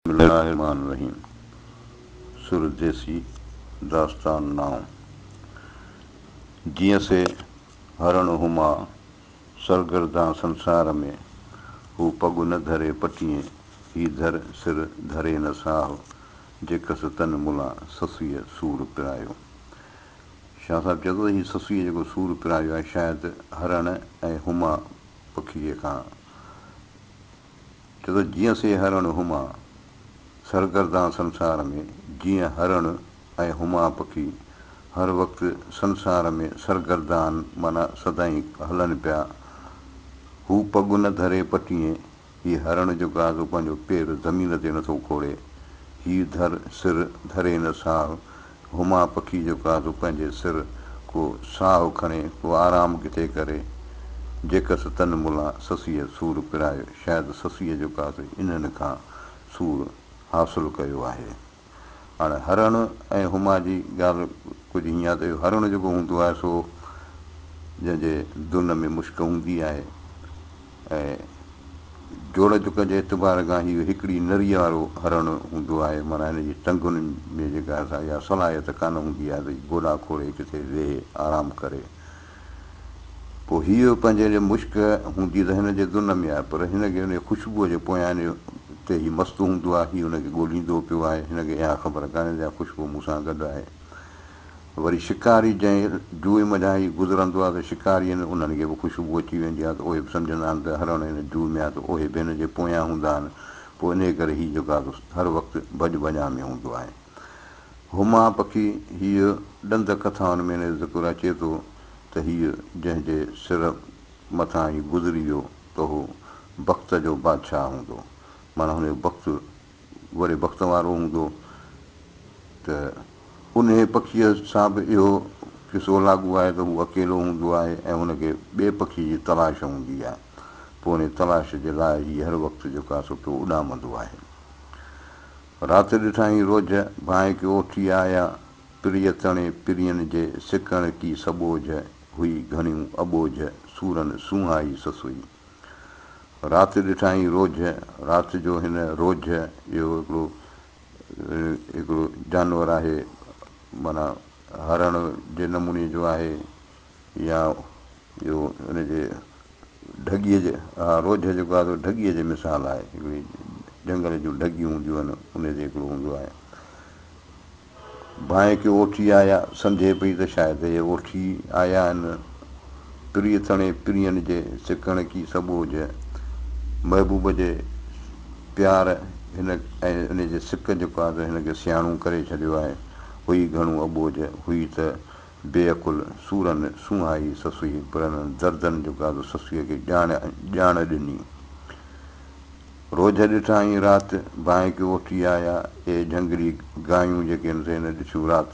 بسم الله الرحمٰن الرحيم سر ديسي داستان نام جيئن سي هرڻ هما سرگردان سنسار ۾ هو پڳ نه ڌري پٽيئين هي ڌر سر ڌري نه ساهو جي ڪس تن ملا سسئي سور پرايو شاهه صاحب چئي ٿو ته هي سسئي جيڪو سور پرايو آهي شايد هرڻ ۽ هما پکيء کان ڇو ته جيئن سي هرڻ هما، سرگردان سنسار ۾، جيئن هرڻ ۽ هما پکي هر وقت سنسار ۾ سرگردان معنيٰ سدائين هلن پيا. هو پڳ نه ڌري پٽيئين، هي هرڻ جو گازو پنهنجو پير زمين تي نٿو کوڙي، هي ڌر سر ڌري نه ساهه هما پکي جو ڪاڌو پنهنجي سر ڪو ساهو کڻي ڪو آرام ڪٿي ڪري جيڪس تن ملا سسيء سور پرايو شايد سسيء جو ڪاڌو انهن کان سور حاصل ڪيو آهي اڻ هرڻ ۽ هما جي ڳالهه ڪجهه هيئن آهي ته اهو هرڻ جيڪو هوندو آهي سو جنهن جي دن ۾ مشڪ هوندي آهي ۽ جوڙ جڪ جي اعتبار کان هيء هڪڙي نريء وارو هرڻ هوندو آهي، معنيٰ هن جي ٽنگن ۾ جيڪا اها اها صلاحيت ڪانه هوندي آهي ته هيء گوڏا کوڙي ڪٿي ويهي آرام ڪري. پوء هيء پنهنجي لئه مشڪ هوندي ته هن جي دن ۾ آهي، پر هن کي ان جي خوشبوء جي پويان تي هيء مست هوندو آهي، هيء ان کي ڳوليندو پيو آهي، هن کي اها خبر ڪانهي ته اها خوشبو مون سان گڏ آهي. وري شڪاري جنهن جوء منجهان ئي گذرندو آهي ته شڪاري آهن انهن کي به خوشبو اچي ويندي آهي ته اهي به سمجهندا آهن ته هرڻ هن جوء ۾ آهي ته اهي به هن جي پويان هوندا آهن پوء انهيء ڪري هي جيڪو آهي سو هر وقت ڀڄ ڀڃان ۾ هوندو آهي. هما پکي هيء ڏند ڪٿائن ۾ هن جو ذڪر اچي ٿو ته هيء جنهن جي سر مٿان ئي گذري ويو ته اهو بخت جو بادشاهه هوندو معنيٰ هن جو بخت وري بخت وارو هوندو ته انهيء پکيء سان به اهو قصو لاڳو آهي ته هو اڪيلو هوندو آهي ۽ هن کي ٻئي پکي جي تلاش هوندي آهي، پوء انهيء تلاش جي لاء هي هر وقت جو ڪا سٽو اڏامندو آهي. رات ڏٺائين روجهه، ڀانء ڪي اوٺي آيا، پريء تڻي پرين جي سڪڻ ڪي سٻوجهه هئي گهڻيون اٻوجهه سورن سونهائي سسئي. رات ڏٺائين روجهه، رات جو هن روجهه اهو هڪڙو هڪڙو جانور آهي معنيٰ هرڻ جي نموني جو آهي يا اهو ان جي ڍڳيء جي اها روجهه جيڪو آهي سو ڍڳيء جي مثال آهي هڪڙي جهنگل جون ڍڳيون هونديون آهن انهي جي هڪڙو هوندو آهي ڀانئي ڪي اوٺي آيا، سمجهي پئي ته شايد اهي اوٺي آيا آهن، پرينء تڻي پرين جي سڪڻ ڪي سٻوجهه، محبوب جي پيار هن ۽ ان جي سڪ جيڪو آهي سو هن کي سياڻو ڪري ڇڏيو آهي، هئي گهڻو اٻوجهه، هئي ته بي عقل سورن سونهائي سسئي، پرن دردن جو گادو سسئي کي ڄاڻ ڄاڻ ڏني. روجهه ڏٺائين رات، ڀانء ڪيو اٿي آيا، اي جهنگلي گايون جيڪي نٿي نه ڏٺيون رات،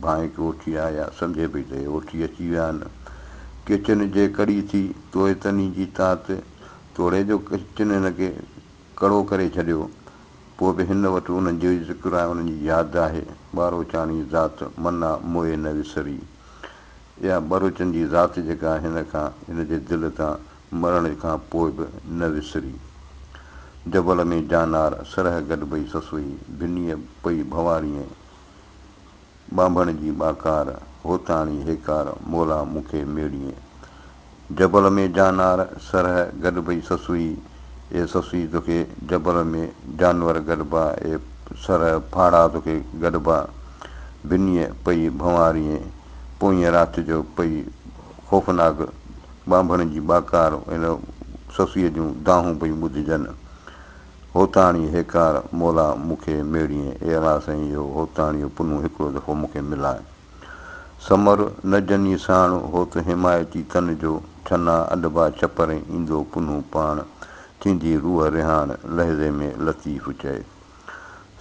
ڀانء ڪيو اٿي آيا، سمجهي پئي ته اي اٿي اچي ويا آهن. ڪيچن جي ڪڙي ٿي، توئي تني جي تات، توڙي جو ڪيچن هن کي. ڪڙو ڪري ڇڏيو، پوء به هن وٽ انهن جو ئي ذڪر ۽ انهن جي ياد آهي. ٻاروچاڻي ذات منا موئي نه وسري. اها ٻروچن جي ذات جيڪا هن کان هن جي دل تان مرڻ کان پوء به نه وسري. جبل ۾ جانار سرهه گڏبئي سسوئي ڀنيء پئي ڀنوارينء. ٻانڀڻ جي ٻاڪار، هوتاڻي هيڪار، مولا مون کي ميڙيئين. جبل ۾ جانار، سرهه، گڏبئي سسئي، اي سسئي توکي جبل ۾ جانور گڏبا، اي سرهه ڦاڙها توکي گڏبا. بنيء پئي ڀنواريئين، پوئينء رات جو پئي خوفناڪ ٻانڀڻ جي ٻاڪار، ان سسئي جون دانهون پيون ٻڌجن. هوتاڻي هيڪار مولا مون کي ميڙيئي، اي الله سائين اهو هوتاڻيو پنهون هڪڙو دفعو مون کي ملائي. سمر نه جني ساڻ هوت حمايتي تن جو، ڇنا اڏبا ڇپرين ايندو پنهون پاڻ، ٿيندي روح رهاڻ لحظي ۾ لطيف چئي.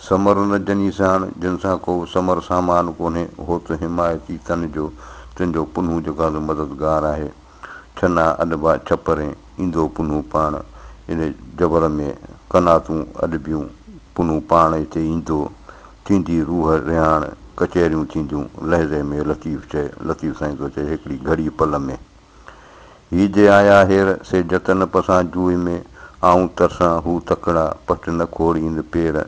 سمر نه جني ساڻ، جن سان ڪو سمر سامان ڪونهي، هوت حمايتي تن جو، تنهنجو پنهون جيڪو آسان مددگار آهي. ڇنا اڏبا ڇپرين ايندو پنهون پاڻ ان جبر ۾ قناتون اڏبيون پنهون پاڻ اتي ايندو ٿيندي روح رهاڻ ڪچهريون ٿينديون لحظي ۾ لطيف چئي لطيف سائين ٿو چئي هڪڙي گهڙي پل ۾ هي جي آيا هير سي جتن پسان جوئي ۾ آئون ترسان هو تڪڙا پٽ نه کوڙين پير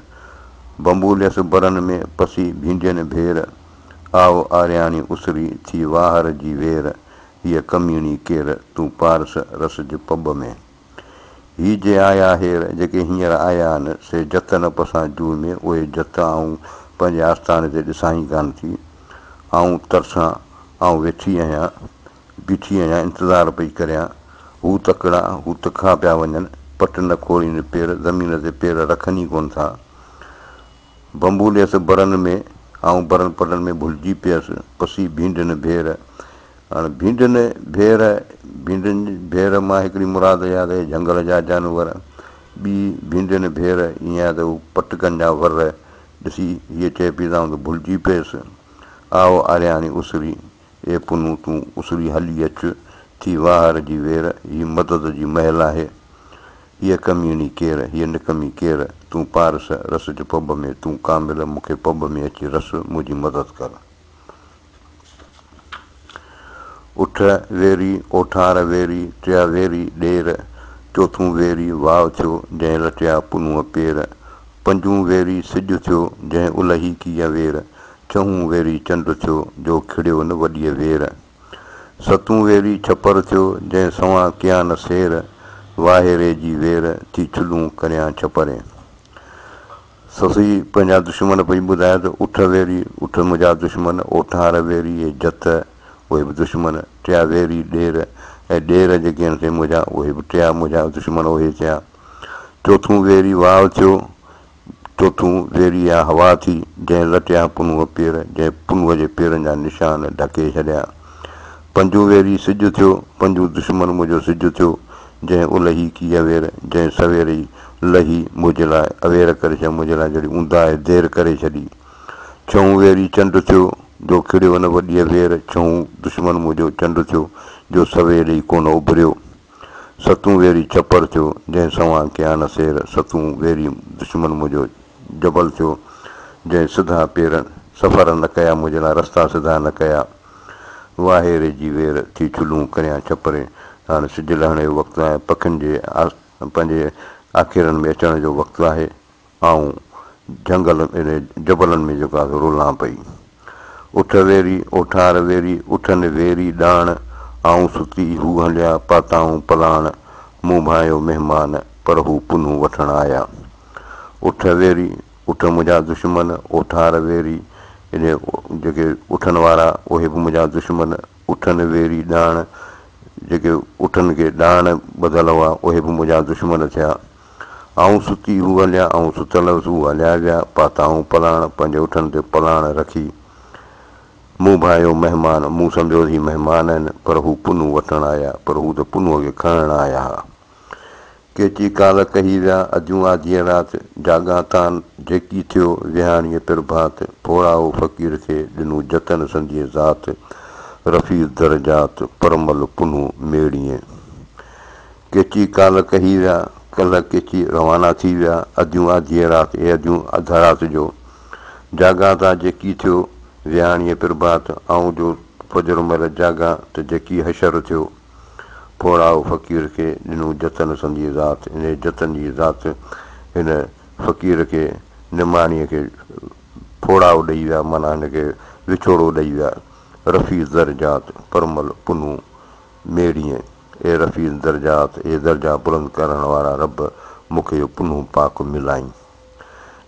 بنبوليس برن ۾ پسي ڀينڊين ڀير آء آرياڻي اسري ٿي واهر جي وير هيء ڪميڻي ڪير تون پارس رس جي پٻ ۾. هي جي آيا هير جيڪي هينئر آيا آهن سي جت نه پسان جوء ۾، اهي جت آئون پنهنجي آستاني تي ڏسان ئي ڪانه ٿي. آئون ترسان، آئون ويٺي آهيان، بيٺي آهيان انتظار پئي ڪريان. هو تڪڙا، هو تکا پيا وڃن، پٽ نه کوڙين پير زمين تي پير رکن ئي ڪونه ٿا. بنبوليس برن ۾، آئون برن پرڏن ۾ ڀلجي پيس، پسي ڀينڊين ڀير. هاڻ ڀينڊين ڀير، ڀينڊين ڀير مان هڪڙي مراد اها ته جهنگل جا جانور، ٻي ڀينڊين ڀير ائين آهي ته هو پٽڪن جا ور ڏسي هيء چئي پئي ته آئون ته ڀلجي پيس. آء آرياڻي اسري، اي پنهون تون اسري هلي اچ، ٿي واهر جي وير، هي مدد جي مهل آهي. هيء ڪميڻي ڪير، هيء نڪمي ڪير، تون پارس رس جو پٻ ۾، تون ڪامل مون کي پٻ ۾ اچي رس، منهنجي مدد ڪر. اٺ ويري، اوٺار ويري، ٽيا ويري، ڏير، چوٿون ويري، واء ٿيو، جنهن لٽيا پنونء پير، پنجون ويري، سج ٿيو، جنهن الهي ڪيئي وير، ڇهون ويري، چنڊ ٿيو، جو کڙيو نه وڏيء وير. ستون ويري ڇپر ٿيو، جنهن سوان ڪيا نه سير، واهي ري جي وير، ٿي ڇلون ڪريان ڇپرين. سسئي پنهنجا دشمن پئي ٻڌائي ته اٺ ويري، اٺ منهنجا دشمن، اوٺار ويري ۽ جت، اهي به دشمن، ٽيا ويري ڏير ۽ ڏير جيڪي آهن سي منهنجا، اهي به ٽيا منهنجا دشمن اهي ٿيا. چوٿون ويري واء ٿيو، چوٿون، زيري يا هوا ٿي، جنهن لٽيا پنهونء پير، جنهن پنهونء جي پيرن جا نشان ڍڪي ڇڏيا. پنجون، ويري سج ٿيو، پنجون دشمن منهنجو سج ٿيو، جنهن الهي ڪي اوير، جنهن سوير ئي لهي منهنجي لاء اوير ڪري ڇڏي، منهنجي لاء جهڙي اونداهي دير ڪري ڇڏي. ڇهون، ويري چنڊ ٿيو، جو کڙيو ان وڏيء وير، ڇهون دشمن منهنجو چنڊ ٿيو، جو سوير ئي ڪونه اڀريو. ستون ويري ڇپر ٿيو، جنهن سنوان ڪيا نه سير، ستون ويري دشمن منهنجو جبل ٿيو، جنهن سڌا پير سفر نه ڪيا، منهنجي لاء رستا سڌا نه ڪيا، واهي ري جي وير ٿي چلون ڪريان ڇپرين، ته هاڻي سج لهڻ جو وقت آهي، پکين جي پنهنجي آکيرن ۾ اچڻ جو وقت آهي. آئون جهنگل ۾ جبلن ۾ جيڪو آهي سو رولان پئي. اٿ ويري، اوٺار ويري، اٿن ويري ڏاڻ، آئون ستي، هو هليا، پاتائون پلاڻ، مون ڀانئيو مهمان، پر هو پنهون وٺڻ آيا. اٿ ويري، اٺ منهنجا دشمن، اوٺار ويري، يعني جيڪي اٺن وارا، اهي به منهنجا دشمن، اٿن ويري ڏاڻ، جيڪي اٺن کي ڏاڻ ٻڌل هئا، اهي به منهنجا دشمن ٿيا. آئون ستي هو هليا، آئون ستل هيس هو هليا ويا، پاتائون پلاڻ، پنهنجي اٺن تي پلاڻ رکي، مون ڀانئيو مهمان، مون سمجهيو هي مهمان آهن، پر هو پنهون وٺڻ آيا، پر هو ته پنهونء کي کڻڻ آيا ها. ڪيچي ڪالهه ڪهي ويا، اجهون آڌيء رات، جاڳان تان، جيڪي ٿيو، ويهاڻيء پرڀات، ڦوڙائو فقير کي، ڏنو جتن سنديء ذات، رفيع درجات، پرمل پنهون ميڙيئي. ڪيچي ڪالهه ڪهي ويا، ڪلهه ڪيچي روانا ٿي ويا، اديون آڌيء رات اي اديون اڌ رات جو، جاڳان ٿا جيڪي ٿيو، ويهاڻيء پرڀات آئون جو فجر مهل جاڳان ته جيڪي حشر ٿيو. پوڙهائو فقير کي ڏنو جتن سنديء ذات انهيء جتن جي ذات هن فقير کي نماڻيء کي پوڙهائو ڏئي ويا معنيٰ هن کي وڇوڙو ڏئي ويا رفيع زر جات پرمل پنهون ميڙيئي اي رفيع الدرجات، اي درجا بلند ڪرڻ وارا رب! مون کي اهو پنهون پاڪ ملائين.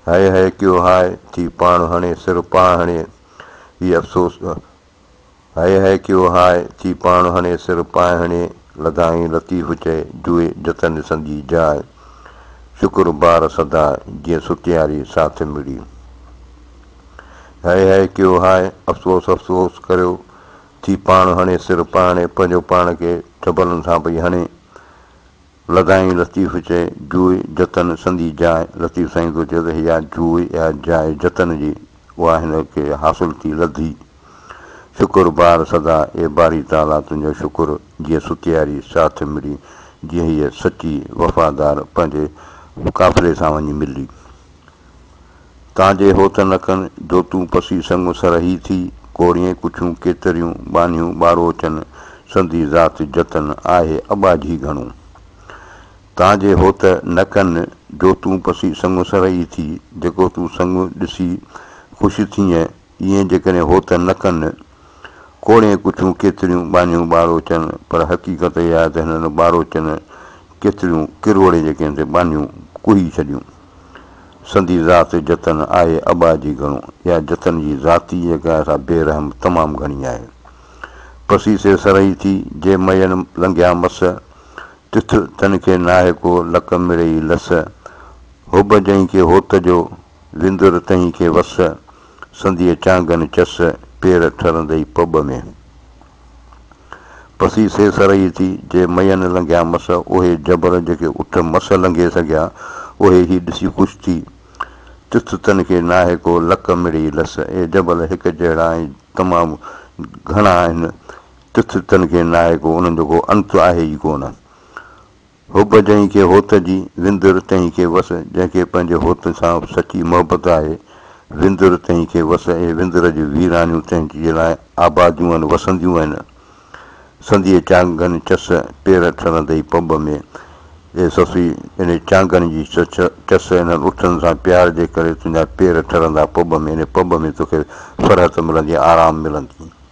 هيء هيء ڪيو هاء ٿي پاڻ هڻي سر پاء هڻي هي افسوس هيء هيء ڪيو هاء ٿي پاڻ هڻي سر پاء هڻي لڌائين لطيف چئي جوئي جتن ڏسندي جاء شڪر بار سدا جيئن ستياري ساٿ مڙي هيء هيء ڪيو هاء افسوس افسوس ڪريو ٿي پاڻ هڻي سر پاڻي پنهنجو پاڻ کي چپلن سان پئي هڻي. لڌائين لطيف چئي جوء جتن سندي جاء لطيف سائين ٿو چئي ته اها جوء اها جاء جتن جي اها هن کي حاصل ٿي لڌي. شڪر بار سدا اي باري تعاليٰ تنهنجو شڪر جيئن ستياري ساٿ ملي جيئن هيء سچي وفادار پنهنجي قافلي سان وڃي ملي. تان جي هو ٿن اڪن، جو تون پسي سڱو سر هي ٿي، ڪوڙيئين ڪڇون ڪيتريون، ٻانهيون ٻاروچن، سندي ذات جتن، آهي اٻاجهي گهڻو. تان جي هو ته نه ڪن، جو تون پسي سڱو سر هي ٿي، جيڪو تون سڱو ڏسي خوش ٿيئين، ايئين جيڪڏهن هو ته نه ڪن، ڪوڙيئين ڪڇون ڪيتريون، ٻانهيون ٻاروچن، پر حقيقت اها آهي ته هنن ٻاروچن ڪيتريون، ڪروڙين جيڪي هن تي ٻانهيون ڪوهي ڇڏيون. سندي ذات جتن آهي ابا جي گهڻو يا جتن جي ذاتي جيڪا سا بي رحم تمام گهڻي آهي پسي سي سرهي ٿي جي مئين لنگهيا مس تٿ تن کي ناهي ڪو لڪ مڙيئي لس حب جنهن کي هوت جو وندر تنهن کي وس سنديء چانگن چس پير ٺرندئي پٻ ۾. پسي سي سرهي ٿي، جي مئي نه لنگهيا مس، اهي جبر جيڪي اٺ مس لنگهي سگهيا، اهي هي ڏسي خوش ٿي، تٿ تن کي ناهي ڪو لڪ مڙهي لس، اهي جبل هڪ جهڙا ۽ تمام گهڻا آهن، تٿ تن کي ناهي ڪو، انهن جو ڪو انت آهي ئي ڪونه. حب جنهن کي هوت جي، وندر تنهن کي وس، جنهن کي پنهنجي هوت سان سچي محبت آهي، وندر تنهن کي وس، اهي وندر جي ويرانيون تنهن جي لاء آباديون آهن، وسنديون آهن، سنديء چانگن چس، پير ٺرندئي پنب ۾، اي سسئي! انهي چانگن جي چس، انهن اٺن سان پيار جي ڪري تنهنجا پير ٺرندا پنب ۾، انهي پنب ۾ توکي فرحت ملندي، آرام ملندي.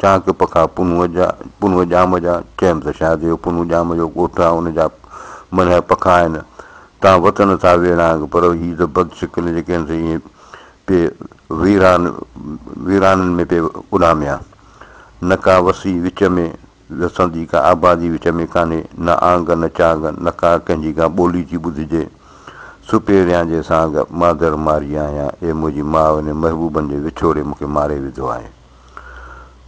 چانڪ پکا پنهونء جا، پنهونء ڄام جا، چيم ته شايد اهو پنهون ڄام جو ڳوٺ آ، ان جا منهه پکا آهن، تان وتن ٿا ويڙهانگ، پر هي ته بد شڪل جيڪي آهن سي ائين پئي ويران ويرانن ۾ پئي اڏاميان. نه ڪا وسي وچ ۾ وسندي، ڪا آبادي وچ ۾ ڪانهي، نه آنگ نه چانگ، نه ڪا ڪنهن جي ڪا ٻولي ٿي ٻڌجي. سپهريان جي سانگ مادر ماري آهيان، اي منهنجي ماء انهن محبوبن جي وڇوڙي مون کي ماري وڌو آهي.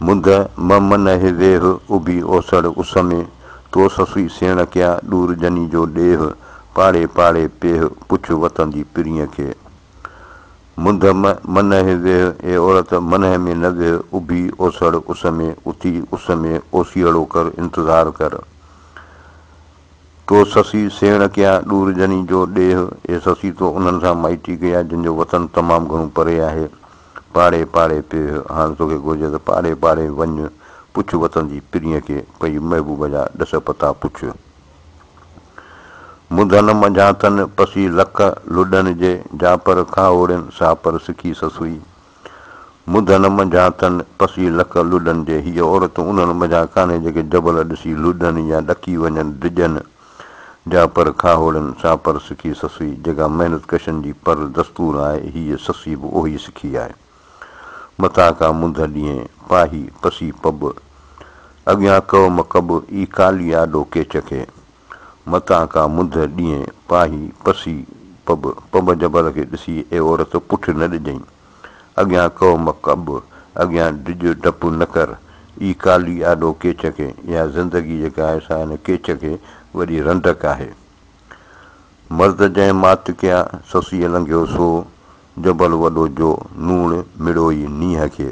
مند م من هي ويهه، اڀي اوسڙ اس ۾، تو سسئي سيڻ ڪيا، ڏور جني جو ڏيهه، پاڙي پاڙي پيهه، پڇ وتندي پرينء کي. مند م من هي ويهه، اي عورت منهه ۾ نه ويهه، اڀي اوسڙ اس ۾، اتي اس ۾ اوسيئڙو ڪر، انتظار ڪر. تو سسئي سيڻ ڪيا، ڏور جني جو ڏيهه، اي سسئي تو انهن سان مائٽي ڪيا، جن جو وطن تمام گهڻو پري آهي. پاڙي پاڙي پيهه هاڻ توکي گهرجي ته پاڙي پاڙي وڃ پڇ وطن جي پرينء کي پئي محبوب جا ڏس پتا پڇ منڌن منجهان تن پسي لڪ لڏن جي جا پر کاهوڙين سا پر سکي سسئي منڌن منجهان تن پسي لڪ لڏن جي هيء عورت انهن منجهان ڪانهي جيڪي جبل ڏسي لڏن يا ڏڪي وڃن ڊڄن جا پر کاهوڙن سان پر سکي سسئي جيڪا محنت ڪشن جي پر دستور آهي هيء سسئي به اهوئي سکي آهي متان ڪا منڌ ڏينهين پاهي پسي پٻ اڳيان ڪئو مڪب اي ڪالي آڏو ڪيچ کي متان ڪا منڌ ڏينهين پاهي پسي پٻ پٻ جبل کي ڏسي اي عورت پٺ نه ڏجئين. اڳيان ڪو مڪ اب، اڳيان ڊڄ ڊپ نه ڪر. اي ڪالي آڏو ڪيچ کي، اها زندگي جيڪا آهي سا ان ڪيچ کي وڏي رنڊڪ آهي. مرد جنهن مات ڪيا، سسيء لنگهيو سو، جبل وڏو جو، نوڻ مڙوئي نينهن کي.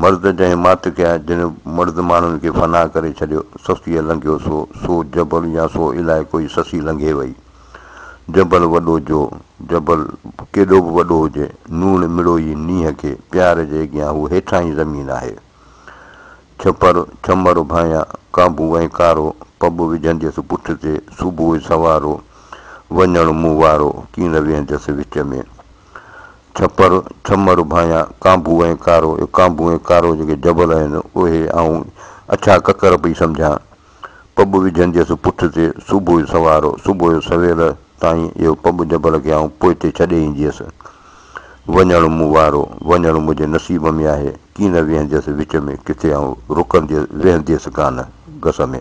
مرد جنهن مات کي ۽ جنهن مرد ماڻهن کي فنا ڪري ڇڏيو، سسيء لنگهيو سو، سو جبل يا سو الائي ڪوئي سسي لنگهي وئي. جبل وڏو جو، جبل ڪيڏو به وڏو هجي، نوڻ مڙوئي نينهن کي، پيار جي اڳيان هو هيٺاهين زمين آهي. ڇپر، ڇمر ڀانئيان، ڪانڀو ۽ ڪارو، پٻ وجهنديس پٺ تي، صبح سوارو، وڃڻ مون وارو، ڪين ويهنديس وچ ۾. ڇپر، ڇمر، ڀانيان، ڪانڀو ۽ ڪارو، اهي ڪانڀو ۽ ڪارو جيڪي جبل آهن، اهي آئون اڇا ڪڪر پئي سمجهان. پٻ وجهنديس پٺ تي، صبح جو سوار، صبح جو سويل تائين اهو پٻ جبل کي آئون پوئتي ڇڏي اينديس. وڃڻ مون وارو، وڃڻ منهنجي نصيب ۾ آهي، ڪين نه ويهنديس وچ ۾، ڪٿي آئون رڪنديس، ويهنديس ڪانه گس ۾.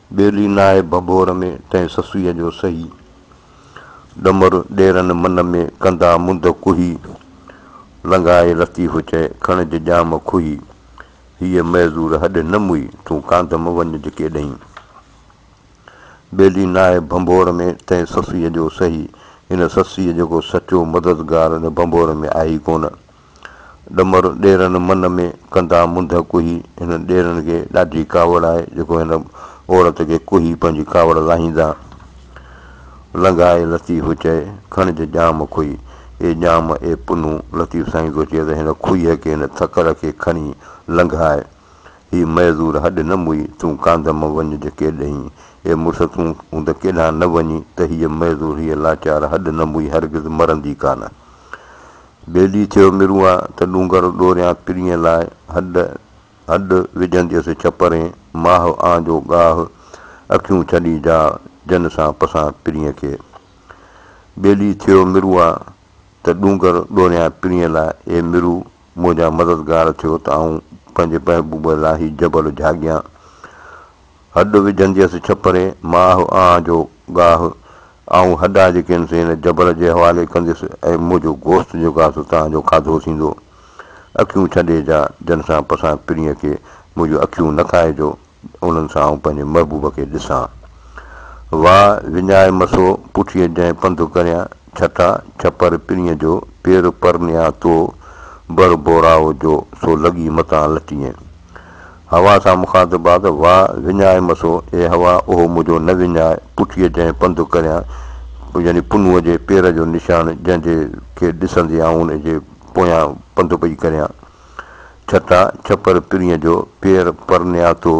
ٻيلي ناهي ڀڀور ۾، تنهن سسئيء جو سهي. ڏمر ڏيرن من ۾، ڪندا منڌ ڪوهي. لنگهائي لطيف چئي، کڻج ڄام کوهي. هيء معذور هڏ نه موئي، تون ڪانڌم وڃج ڪيڏهين. ٻيلي ناهي ڀنڀور ۾، تنهن سسئيء جو سهي. ان سسئيء جيڪو سچو مددگار ان ڀنڀور ۾ آهي ئي ڪونه. ڏمر ڏيرن من ۾ ڪندا منڌ ڪوهي، هن ڏيرن کي ڏاڍي ڪاوڙ آهي جيڪو هن عورت کي ڪوهي پنهنجي ڪاوڙ لاهيندا. لنگهائي لطيف چئي، کڻج ڄام کوهي، اي ڄام اي پنهون، لطيف سائين ٿو چئي ته هن کوهيء کي هن ٿڪر کي کڻي لنگهاء، هي معذور هڏ نه موئي، تون ڪانڌم وڃج ڪيڏهين، اي مڙس تون هوند ڪيڏانهن نه وڃين ته هيء معذور هيء لاچار هڏ نه موئي هرگز مرندي ڪانه. بيلي ٿيو مرون آ ته ڏونگر ڏوريان پرينء لاء هڏ هڏ وجهنديس ڇپرين ماهه آن جو ڳاهه اکيون ڇڏي جا جن سان پسان پرينء کي بيلي ٿيو مرون آ ته ڏونگر ڏوريان پرينء لاء اي مرو منهنجا مددگار ٿيو ته آئون پنهنجي محبوب لاهي جبل جهاڳيان هڏ وجهنديس ڇپري، ماهه آنهه جو گاهه، آئون هڏا جي ڪين سين جبر جي حوالي ڪنديس ۽ منهنجو گوشت جو گاهه توهان جو کاڌو ٿيندو. اکيون ڇڏي جا، جن سان پسان پرينء کي منهنجون اکيون نه کائجو، انهن سان آئون پنهنجي محبوب کي ڏسان. واء وڃائي مسو، پٺيء جنهن پنڌ ڪريان، ڇٽا ڇپر پرينء جو، پير پرنيان تو، بر بوراء جو، سو لڳي متان لٽينء. هوا سان مخاطب آ ته واء وڃاء مسو، اي هوا اهو منهنجو نه وڃاء، پٺيء جنهن پنڌ ڪريان، يعني پنهونء جي پير جو نشان، جنهن جي کي ڏسندي آئون ان جي پويان پنڌ پئي ڪريان. ڇٽا، ڇپر پرينء جو، پير پرنياتو،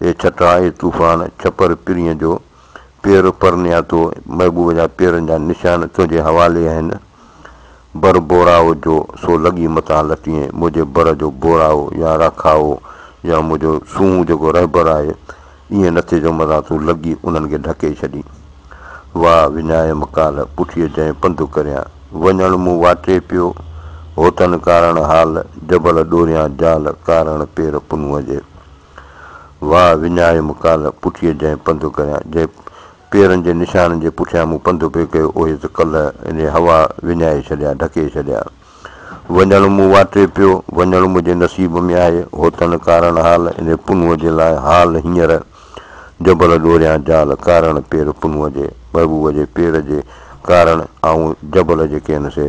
اي ڇٽا، اي طوفان، ڇپر پرينء جو، پير پر نياتو محبوب جا پيرن جا نشان تنهنجي حوالي آهن بر بوراو جو سو لڳي متان لٽيين منهنجي بر جو بوراو يا راکاو يا منهنجو سونهون جيڪو رهبر آهي ائين نه ٿئي جو متان تون لڳي انهن کي ڍڪي ڇڏين واء وڃايم ڪالهه پٺيء جنهن پنڌ ڪريان وڃڻ مون واٽي پيو هوتن ڪارڻ حال جبل ڏوريان جال ڪارڻ پير پنهونء جي. واهه وڃائي مون ڪالهه پٺيء جنهن پنڌ ڪريان، جنهن پيرن جي نشانن جي پٺيان مون پنڌ پئي ڪيو، اهي ته ڪلهه انهيء هوا وڃائي ڇڏيا، ڍڪي ڇڏيا. وڃڻ مون واٽي پيو، وڃڻ منهنجي نصيب ۾ آهي، هوتڻ ڪارڻ حال، انهيء پنهونء جي لاء حال هينئر جبل ڏوريان جال، ڪارڻ پير پنهونء جي، محبوب جي پير جي ڪارڻ آئون جبل جيڪي هن سي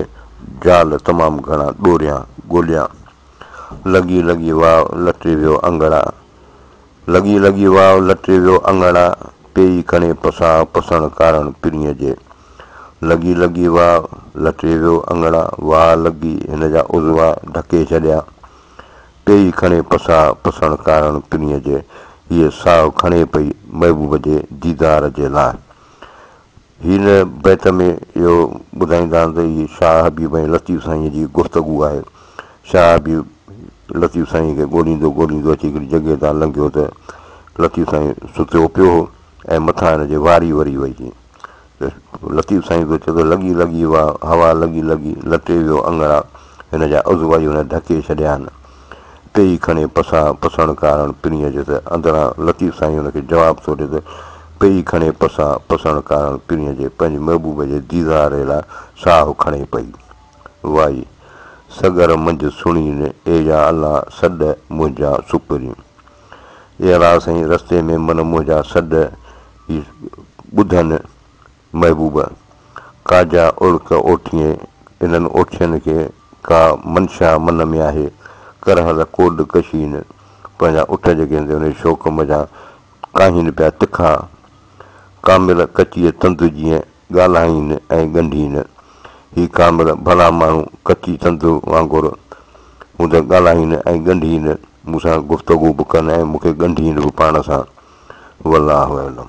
جال تمام گهڻا ڏوريان، ڳوليان. لڳي لڳي واء لٽي ويو اڱڻا. لڳي لڳي واء لٽي ويو اڱڻا، پيئي ڪڻي پسان پسڻ ڪارڻ پرينء جي. لڳي لڳي واء لٽي ويو اڱڻا، واء لڳي هن جا عضوا ڍڪي ڇڏيا. پيئي ڪڻي پسان پسڻ ڪارڻ پرينء جي. هيء ساهه کڻي پئي محبوب جي ديدار جي لاء. هن بيت ۾ اهو ٻڌائيندا آهن ته هي شاهه حبيب ۽ لطيف سائينء جي گفتگو آهي. شاهه حبيب لطيف سائينء کي ڳوليندو ڳوليندو اچي هڪڙي جڳهه تان لنگهيو ته لطيف سائين ستيو پيو هو ۽ مٿان هن جي واري وري وئي هئي ته لطيف سائين پيو چئي ته لڳي لڳي واهه هوا لڳي لڳي لٽي ويو اڱڻا هن جا عضوا ئي هن ڍڪي ڇڏيا آهن. ٽيئي کڻي پساء پسڻ ڪارڻ پرينء جي ته اندران لطيف سائين ان کي جواب ٿو ڏي ته، پيئي کڻي پساء پسڻ ڪارڻ پرينء جي پنهنجي محبوب جي ديدار لاء ساهه کڻي پئي. وائي! سڳر منجهه سڻين، اي يا الله سڏ منهنجا سپرين. اي الله سائين رستي ۾ من منهنجا سڏ ئي ٻڌن محبوبه! ڪا جا اوڙڪ اوٺيين، انهن اوٺين کي ڪا منشا من ۾ آهي، ڪرهه ته ڪوڏ ڪشين، پنهنجا اٺ جيڪي هوندي انهي شوق منجهان ڪاهين پيا تکا، ڪامل ڪچيء تند جيئن ڳالهائين ۽ ڳنڍين، هي ڪامل ڀلا ماڻهو ڪچي تند وانگر مون تي ڳالهائين ۽ ڳنڍين، مون سان گفتگو به ڪن ۽ مون کي ڳنڍين به پاڻ سان. والله اعلم.